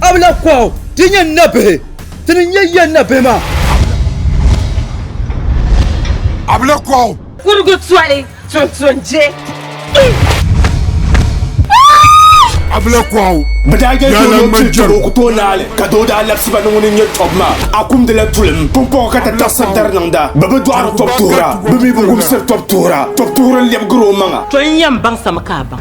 Abla kɔhu ti nyɛ n nabihi ti ni nyɛ ya nabihi maa. Abla kɔhu. Kurigu toli tuntun je. Abla kɔhu. Bɛ daa je doo ni o chiri tɔbu o ku tooi naai li ka doo daa labisi ba ni ŋuni n-nyɛ tɔbu maa. A kumdila tulim. Pumpɔŋɔ ka ti taɣisiri dari niŋda. Bɛ bi dɔɣiri tɔbu tuhira. Bɛ mi bi wumsiri tɔbu tuhira. Tɔbu tuhiri n-lɛbigiri o maŋa. Tɔ n yɛn baŋsimi ka a baŋ.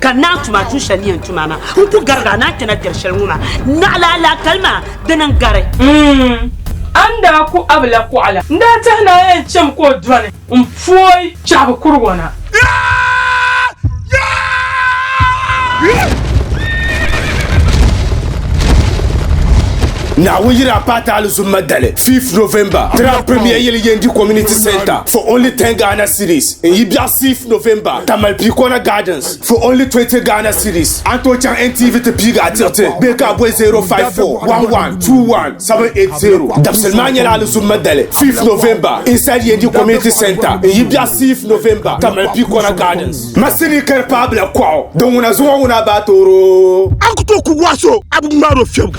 ka naa tuma tu shɛli ni yɛn tuma maa n ku gari ka naa kpɛna diri shɛli ŋɔ maa naɣila alaakali maa dini n gari mm, a ni daa ku a bi la kuɣa la n daa tɛhi naa yɛn chɛmi ka o dɔni n pooi chɛhigu kuri ŋɔ na. Naawuni yira paataali zumma dali 5th November Tira Premier Yili Yendi Community Centre for Only 10 Ghana Cedis. n yi biɛɣu 6 November ka mali Pikona Gardens for only 20 Ghana cedis. A ni tooi chaŋ NTV ti piigi a tiriti bee ka a boli 0541127780. Dabisili maa nyɛla Alizum Madale 5 November inside Yendi Community Centre n yi biɛɣu 6 November ka mali Pikona Gardens. Ma sini ka di paai bila kuɣu din ŋuna zuŋɔ ŋuna baa tooro. An ku tooi ku waso a bi ŋmaaro fiɛbu.